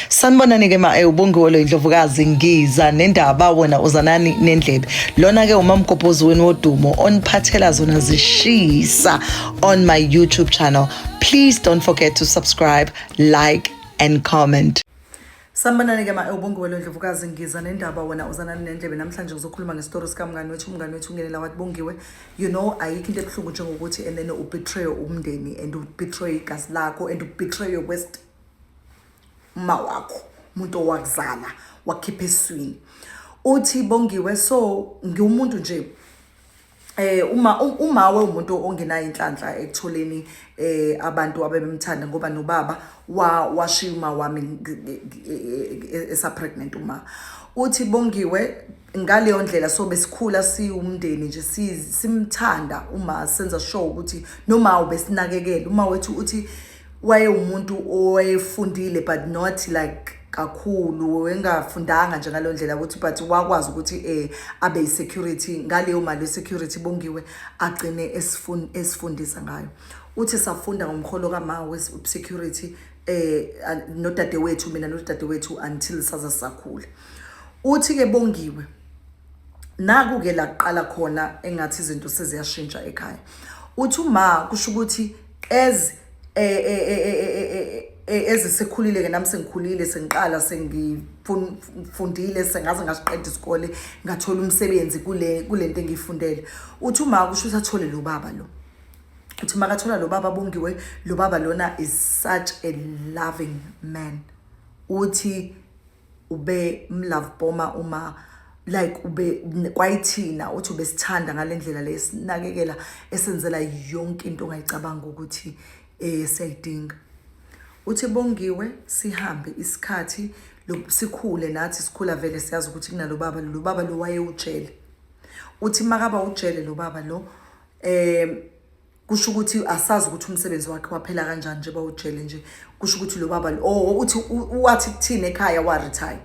sanibonani ke ma eh, ubongiwe lo indlovukazi ngiza nendaba wena uzanani nendlebe lona ke umamgobhozi wenu wodumo oniphathela zona zishisa on my youtube channel please don't forget to subscribe like and comment sanibonani ke ma eh, ubongiwe lo indlovukazi ngiza nendaba wena uzanani nendlebe namhlanje ngizokhuluma ngesitori sikamngani wethu umngani wethu ungenela wathi bongiwe you know ayikho into ebuhlungu njengokuthi and then ubetray umndeni and ubetray igazi lakho and ubetray your west uma wakho umuntu owakuzala wakhipha eswini uthi bongiwe so ngiwumuntu nje eh uma uma we umuntu ongenayo inhlanhla ekutholeni eh abantu abebemthanda ngoba nobaba wa washiya uma wami esa pregnant uma uthi bongiwe ngaleyo ndlela so besikhula siwumndeni nje simthanda uma senza show ukuthi noma ubesinakekela uma wethu uthi wayewumuntu owayefundile but not like kakhulu wengafundanga nje ngalo ndlela ukuthi but wakwazi ukuthi eh abe isecurity ngaleyo mali yesecurity bongiwe agcine esifundisa ngayo uthi safunda ngomholo kama wesecurity eh nodadewethu mina nodadewethu until saza sakhula Uthi-ke Bongiwe, naku-ke la kuqala khona engathi izinto seziyashintsha ekhaya. Uthi uma kusho ukuthi as ezisekhulile-ke nami sengikhulile sengiqala sengifundile sengaze ngasiqeda isikole ngathola umsebenzi kule kule nto engiyifundele uthi uma kusho ukuthi athole lo baba lo uthi uma kathola lo baba bongiwe lo baba lona is such a loving man uthi ube mlove boma uma like ube kwayithina uthi ubesithanda ngalendlela le sinakekela esenzela yonke into ongayicabanga ukuthi eh siyayidinga uthi bongiwe sihambe isikhathi sikhule nathi sikhula vele siyazi ukuthi kunalo baba lo baba lo wayewujele uthi makaba ujele lo baba lo eh kusho ukuthi asazi ukuthi umsebenzi wakhe waphela kanjani nje bawujele nje kusho ukuthi lo baba oh uthi wathi kuthini ekhaya wa retire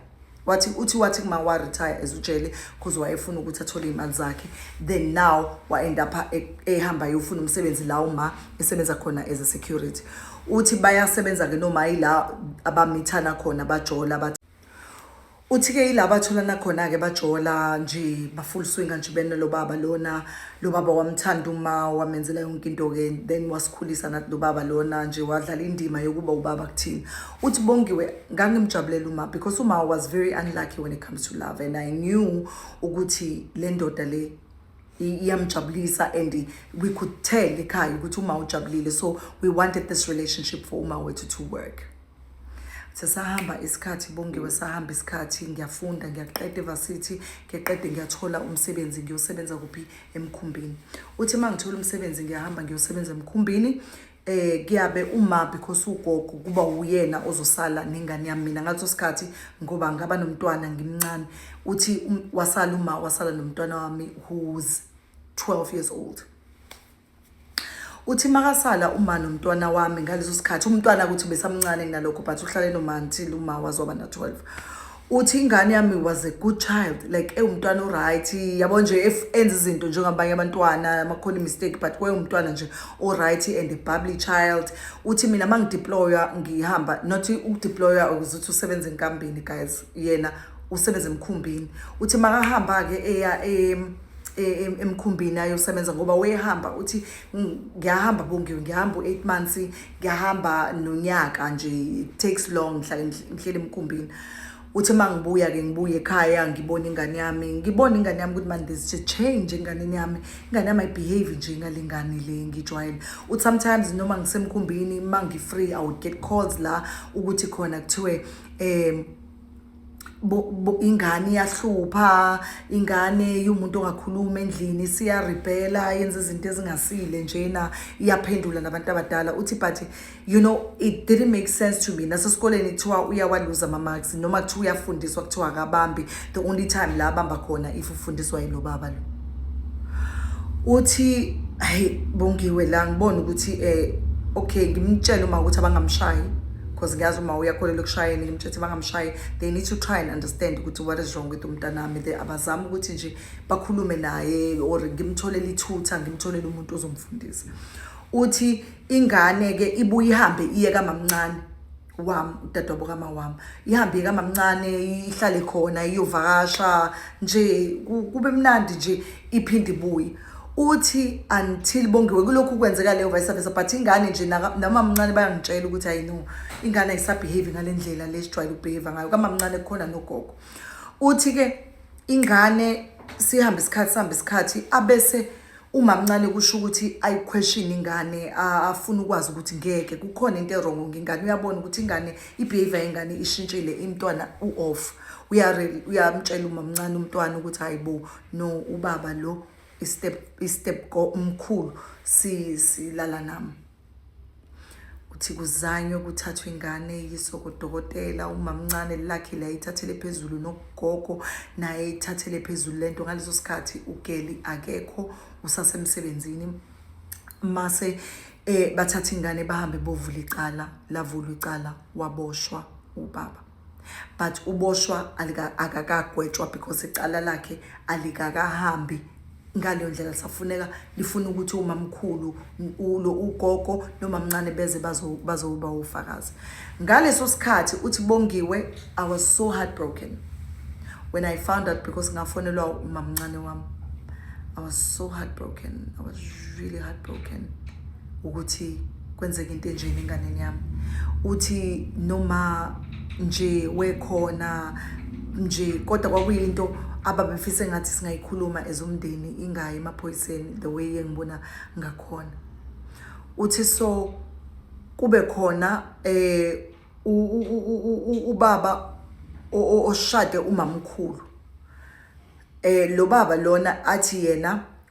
wathi uthi wathi kuma wa retire ezujele cause wayefuna ukuthi athole imali zakhe then now wa end up e, ehamba yofuna umsebenzi la uma esebenza khona as a security uthi bayasebenza ke noma yila abamithana khona bajola bathi Uthi ke ila batholana khona-ke bajola nje ba-full swinga nje bena lo baba lona lo baba wamthanda uma wamenzela yonke into-ke then wasikhulisa nathi lo baba lona nje wadlala indima yokuba ubaba kuthina uthi bongiwe ngangimjabulela uma because uma was very unlucky when it comes to love and i knew ukuthi le ndoda le iyamjabulisa and we could tell ekhaya ukuthi uma ujabulile so we wanted this relationship for uma wethu to work sesahamba isikhathi bongiwe sahamba isikhathi ngiyafunda ngiyaqeda evasithi ngiqede ngiyathola umsebenzi ngiyosebenza kuphi emkhumbini uthi uma ngithola umsebenzi ngiyahamba ngiyosebenza emkhumbini eh kuyabe uma because ugogo kuba uyena ozosala nengane yami mina ngaleso sikhathi ngoba ngaba nomntwana ngimncane uthi um, wasala uma wasala nomntwana wami who's 12 years old uthi makasala uma nomntwana wami ngaleso sikhathi umntwana ukuthi besamncane kunalokho but uhlale noma until uma wazoba na-12 uthi ingane yami was a good child like ewumntwana oright yabo nje if enza izinto njengabanye abantwana amakhona imistake but kwayewumntwana nje oright and a bubbly child uthi mina uma ngideploya ngihamba not ukudeploya ukuze uthi usebenze enkambini guys yena usebenza emkhumbini uthi makahamba-ke eya emkhumbini ayosebenza ngoba wayehamba uthi ngiyahamba bongiwe ngihamba u-eight months ngiyahamba nonyaka nje it takes long ngihlale ngihlele emkhumbini uthi uma ngibuya-ke ngibuye ekhaya ngibone ingane yami ngibone ingane yami ukuthi mani there's a change enganeni yami ingane yami ayibehave nje ngale ngane le ngijwayele uthi sometimes noma ngisemkhumbini uma ngi-free i would get calls la ukuthi khona kuthiwe um ingane iyahlupha ingane iwumuntu ongakhuluma endlini siyaribhela yenza izinto ezingasile njena iyaphendula nabantu abadala uthi but you know it didn't make sense to me nasesikoleni kuthiwa uyawaluza ama-marks noma kuthiwa uyafundiswa kuthiwa akabambi the only time la abamba khona if ufundiswa yilo baba lo uthi hayi bongiwe la ngibona ukuthi eh okay ngimtshele uma ukuthi abangamshayi because ngiyazi uma uyakholelwa ekushayeni ngimtshela ukuthi bangamshayi they need to try and understand ukuthi what is wrong with umntanami they abazama ukuthi nje bakhulume naye or ngimtholele ithutha ngimtholele umuntu ozomfundisa uthi ingane-ke ibuye ihambe iye kamamncane wam udadewabo kama wam ihambe kamamncane ihlale khona iyovakasha nje kube mnandi nje iphinde ibuye uthi until bongiwe kulokhu kwenzeka leyo vice versa but ingane nje namamncane bayangitshela ukuthi ayi no ingane ayisabehave ngale ndlela le sijwayele ukubehave ngayo kamamncane kukhona nogogo uthi-ke ingane sihambe isikhathi sihambe isikhathi abese Umamncane kusho ukuthi ayiquestion ingane afuna ukwazi ukuthi ngeke kukhona into erongo ngengane uyabona ukuthi ingane ibehavior yengane ishintshile imntwana u-off uyamtshela umamncane umntwana ukuthi hayi bo no ubaba lo istep istep mkhulu silala nami ukuthi kuzanywe kuthathwa ingane yiswe kodokotela umamncane lakhe la ithathele phezulu nogogo naye ithathele phezulu lento ngaleso sikhathi ugeli akekho usasemsebenzini mase eh bathatha ingane bahambe bovula icala lavula icala waboshwa ubaba but uboshwa akakagwetshwa because icala lakhe alikakahambi ngaleyo ndlela lisafuneka lifuna ukuthi umamkhulu ulo ugogo nomamncane beze bazoba ufakazi ngaleso sikhathi uthi bongiwe i was so heartbroken when i found out because ngafonelwa umamncane wami i was so heartbroken i was really heartbroken ukuthi kwenzeka into enjeni enganeni yami uthi noma nje wekhona nje kodwa kwakuyinto ababefise ngathi singayikhuluma as umndeni ingayi emaphoyiseni the way engibona ngakhona uthi so kube khona eh ubaba oshade umamkhulu eh lo baba lona athi yena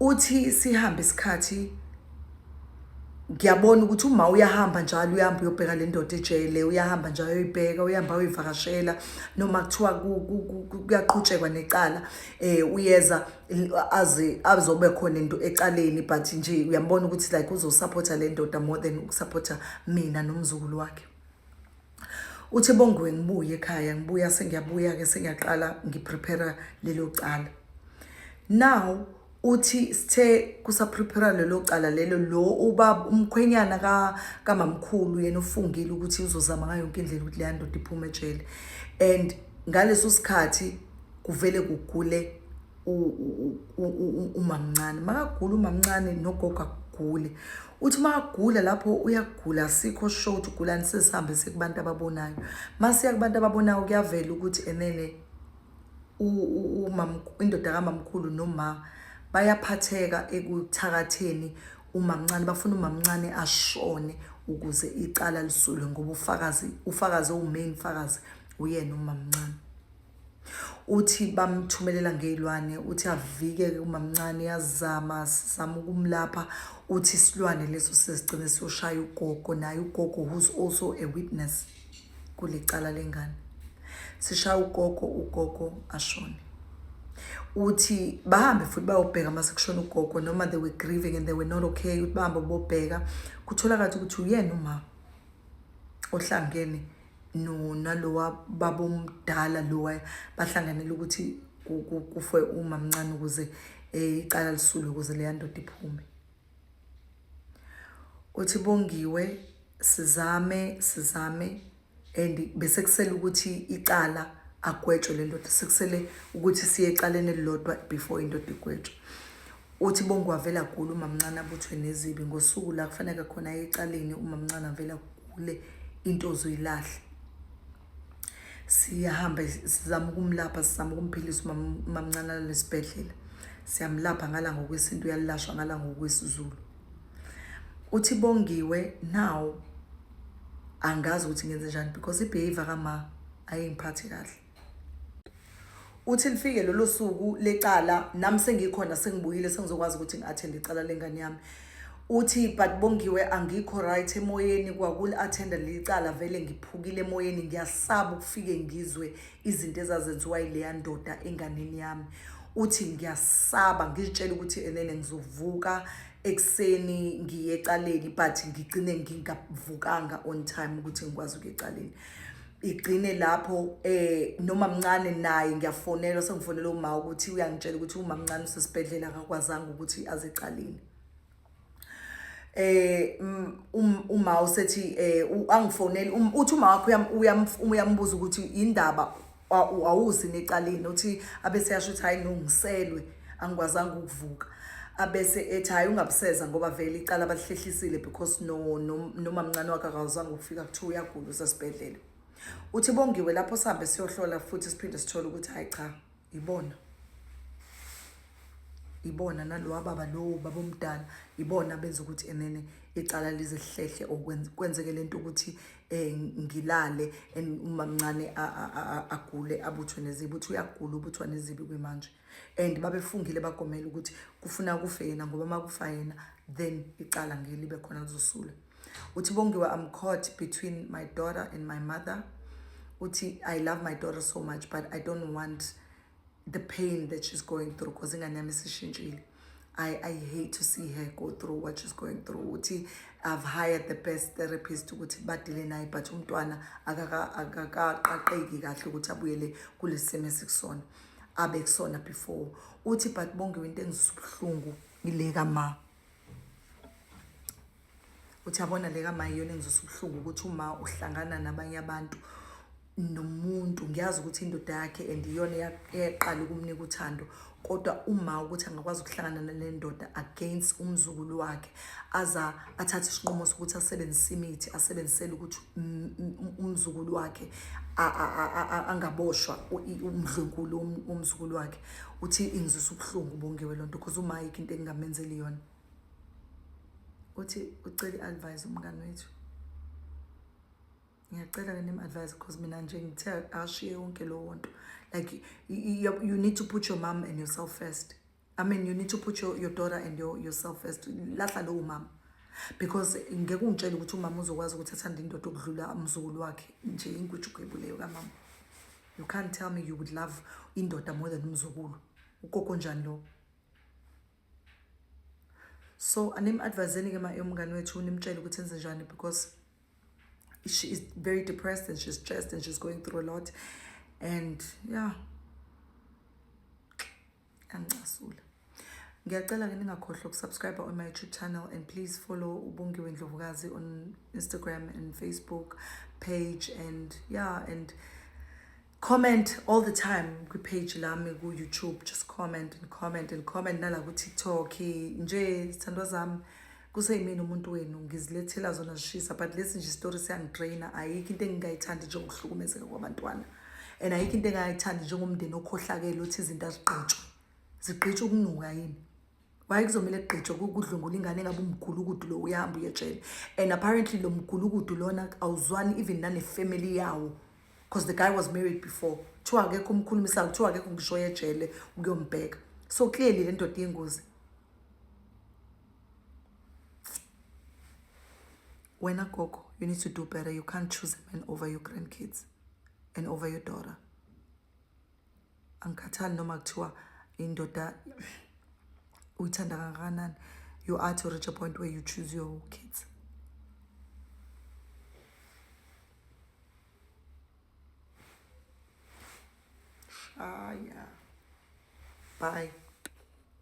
uthi sihambe isikhathi ngiyabona ukuthi uma uyahamba njalo uyahamba uyobheka le ndoda ejele uyahamba njalo uyoyibheka uyahamba uyoyivakashela noma kuthiwa kuyaqhutshekwa necala um uyeza aze azobe khona into ecaleni but nje uyambona ukuthi like uzosaphotha le ndoda more than ukusaphotha mina nomzukulu wakhe Uthi Bongiwe ngibuye ekhaya ngibuya sengiyabuya ke sengiyaqala ngiprepare lelo cala. Now uthi sithe kusaprepare lelo cala lelo lo ubaba umkhwenyana ka kamamkhulu yena ufungile ukuthi uzozama ngayo yonke indlela ukuthi leya ndoda iphume ejele and ngaleso sikhathi kuvele kugule umamncane makagula umamncane nogogo agule uthi makagula lapho uyagula sikho sho ukuthi ugulani sesihambe sekubantu ababonayo masiya kubantu ababonayo kuyavela ukuthi enene indoda kamamkhulu noma bayaphatheka ekuthakatheni umamncane bafuna umamncane ashone ukuze icala lisulwe ngoba ufakazi ufakazi owumain fakazi uyena umamncane uthi bamthumelela ngey'lwane uthi avike-ke umamncane yazama sizama ukumlapha uthi isilwane leso sesigcine siyoshaya ugogo naye ugogo who's also a witness kule cala lengane sishaya ugogo ugogo ashone uthi bahambe futhi bayobheka uma sekushona ugogo noma they were grieving and they were not okay ukuthi bahambe bobheka kutholakala ukuthi uyena umama ohlangene no nalowa baba omdala lowa bahlanganele ukuthi kufe umamncane ukuze eh, icala lisulwe ukuze leya ndoda iphume uthi bongiwe sizame sizame and bese kusele ukuthi icala agwetshwe le ndoda sekusele ukuthi siye ecaleni elilodwa before indoda igwetshwe Uthi bonke wavele agule umamncane abuthwe nezibi ngosuku la kufaneke khona aye ecaleni umamncane avele agule into ozoyilahle siyahamba sizama ukumlapha sizama ukumphilisa umamncane lesibhedlela siyamlapha ngala ngokwesintu uyalashwa ngala ngokwesizulu uthi bongiwe now angazi ukuthi ngenze njani because ibehavior kama ayingiphathi kahle uthi lifike lolo suku lecala nami sengikhona sengibuyile sengizokwazi ukuthi ngi-athende icala lengane yami uthi but bongiwe angikho right emoyeni kwakuli-athenda leli cala vele ngiphukile emoyeni ngiyasaba ukufike ngizwe izinto ezazenziwa yileya ndoda enganeni yami uthi ngiyasaba ngizitshela ukuthi enene ngizovuka ekuseni ngiye ecaleni but ngigcine ngingavukanga on time ukuthi ngikwazi ukuya ecaleni igcine lapho eh noma mncane naye ngiyafonela sengifonela uma ukuthi uyangitshela ukuthi uma mncane usesibhedlela akakwazanga ukuthi azecalini eh mm, um, uma usethi eh angifoneli um, uthi uma wakho uyambuza ukuthi indaba awuzi necalini uthi abese yasho ukuthi hayi nongiselwe angikwazanga ukuvuka abese ethi hayi ungabuseza ngoba vele icala balihlehlisiile because no nomamncane no wakhe akawazanga ukufika kuthiwa uyagula usesibhedlela uthi bongiwe lapho sihambe siyohlola futhi siphinde sithole ukuthi hayi cha ibona ibona nalowa baba lowo baba omdala ibona benza ukuthi enene icala lize hlehle okwenzeke lento ukuthi eh ngilale umamncane agule abuthwe nezibi uthi uyagula ubuthwa nezibi kwimanje and babefungile bagomela ukuthi kufuna kufe yena ngoba uma kufa yena then icala ngeke libe khona kuzosula uthi bongiwe i'm caught between my daughter and my mother uthi i love my daughter so much but i don't want the pain that she's going through because ingane yami isishintshile I, I hate to see her go through what she's going through uthi i've hired the best therapist ukuthi badile naye but umntwana akakaqaqeki kahle ukuthi abuyele kulesi simo esikusona abekusona before uthi but bongiwe into engizisa ubuhlungu ile kama uthi yabona le kama iyona engizisa ubuhlungu ukuthi uma uhlangana nabanye abantu nomuntu ngiyazi ukuthi indoda yakhe and iyona yaqala ukumnika uthando kodwa uma ukuthi angakwazi ukuhlangana nale ndoda against umzukulu wakhe aza athathe isinqumo sokuthi asebenzise imithi asebenzisele ukuthi umzukulu wakhe angaboshwa umdlunkulu umzukulu wakhe uthi ingizwisa ubuhlungu bongiwe loo nto because umayike into engingamenzeli yona uthi ucela i-advise umngane wethu ngiyacela ke nim-advise because mina nje ngithe ashiye yonke lowo nto like you, you need to put your mom and yourself first I mean you need to put your, your daughter and your, yourself first lahla lowo mama because ngeke ungitshele ukuthi umama uzokwazi ukuthi athanda indoda okudlula umzukulu wakhe nje inkujugebhu leyo kamama you can't tell me you would love indoda more than umzukulu ukoko njani lowo so anim-adviseni-ke ma umngane wethu nimtshele ukuthi enze njani because she is very depressed and she's stressed and she's going through a lot and yeah angicasula ngiyacela ke ningakhohlwa ukusubscribe on my youtube channel and please follow ubongiwe ndlovukazi on instagram and facebook page and yeah and comment all the time kwi-page lami ku-youtube just comment and comment and comment nala ku-tiktok nje zithandwa zami kuseyimina umuntu wenu ngizilethela zona zishisa but lesi nje isitori siyangidraina ayikho into engingayithandi njengokuhlukumezeka kwabantwana and ayikho into engingayithandi njengomndeni okhohlakele othi izinto azigqitshwe zigqitshwe ukunuka yini waye kuzomele kugqitshwe kudlwengula ingane engabe umgulukudu lo uyahamba uyetshela and apparently lo mgulukudu lona awuzwani even nanefamily yawo because the guy was married before kuthiwa akekho umkhulumisayo kuthiwa akekho ngisho yejele ukuyombheka so clearly le ndoda yengozi wena gogo you need to do better you can't choose a man over your grandkids and over your daughter angikhathali noma kuthiwa indoda uyithanda kangakanani you are to reach a point where you choose your kids shaya bye